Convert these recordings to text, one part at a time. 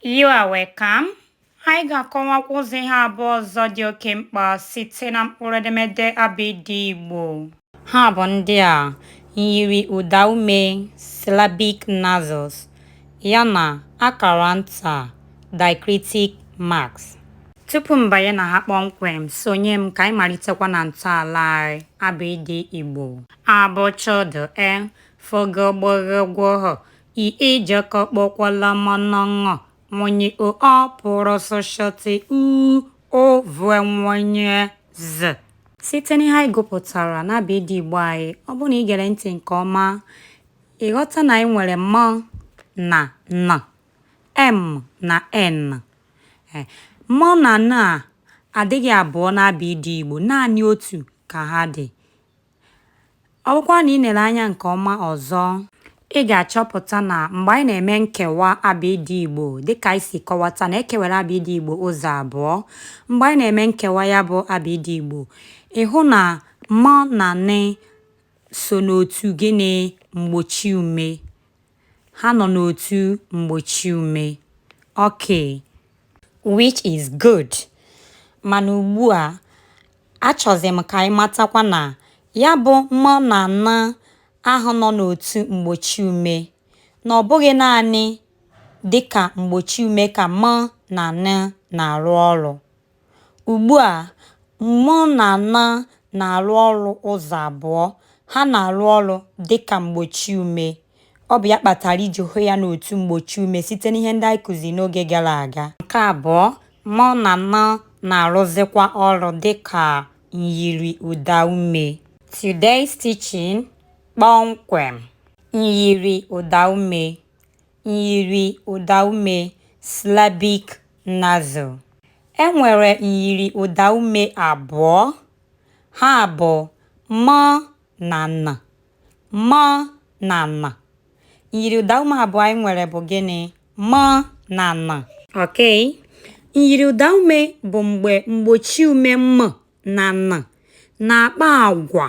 You are welcome. Anyị ga-akọwakwa ụzọ ihe abụọ ọzọ dị oke mkpa site na mkpụrụ edemede abịdị Igbo. Ha bụ ndị a myiri ụdaume syllabic nasals yana akara nta diacritic marks. Tupu m banye na ha kpọmkwem, sonye m ka anyị malitekwa na ntọala anyị, abịdị Igbo. A b ch d e, f g gb gh gw h, I ị j k kp kw l m n ṅ nw ny o ọ p r s sh t u ụ v w y z. Site n'ihe anyị gụpụtara n'abịịdị Igbo anyị, ọ bụrụ na i gere ntị nke ọma, ị ghọta na anyị nwere m na n, m na n. E, m na n a adịghị abụọ n'abịịdị Igbo, naanị otu ka ha dị. Ọ bụkwa na ị lere anya nke ọma ọzọ, ị ga-achọpụta na mgbe anyị na-eme nkewa abịịdị Igbo, dịka anyị si kọwata na e kewara abịịdị Igbo ụzọ abụọ, mgbe anyị na-eme nkewa ya bụ abịịdị Igbo, ị hụ na m na n so n'otu gịnị mgbochi ume. Ha nọ n'otu mgbochi ume. Okay. Which is good. Mana ugbu a, achọzi m ka ị matakwa na ya bụ m na n ahụ nọ n'otu mgbochi ume na ọ bụghị naanị dị ka mgbochi ume ka m na n na-arụ ọrụ. Ugbu a, m na n na-arụ ọrụ ụzọ abụọ, ha na-arụ ọrụ dị ka mgbochi ume. Ọ bụ ya kpatara i ji hụ ya n'otu mgbochi ume site n'ihe ndị anyị kụziri n'oge gara aga. Nke abụọ, m na n na-arụzikwa ọrụ dị ka myiri ụda ume. Today's teaching, Kpọmkwem, myiri ụda ume. myiri ụdaume syllabic nasal. E nwere myiri ụdaume abụọ. Ha bụ m na n. M na n. Myiri ụdaume abụọ anyị nwere bụ gịnị? M na n. Okay. Myiri ụdaume bụ mgbe mgbochiume m na n na-akpa agwa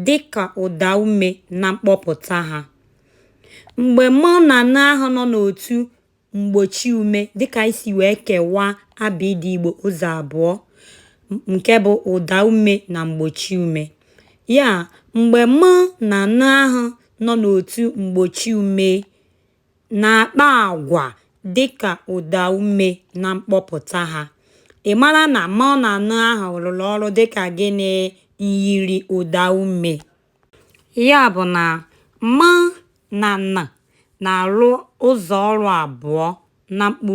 dị ka ụdaume na mkpọpụta ha. Mgbe m na n ahụ nọ n'otu mgbochiume dị ka anyị si wee kewaa abịịdịị Igbo ụzọ abụọ nke bụ ụdaume na mgbochiume. Ya, mgbe m na n ahụ nọ n'otu mgbochiume na-akpa agwa dị ka ụdaume na mkpọpụta ha. Ị mara na m na n ahụ rụrụ ọrụ dị ka gịnị? Myiriụdaume. Ya bụ na m na n na-arụ ụzọ ọrụ abụọ na mkpụrụ.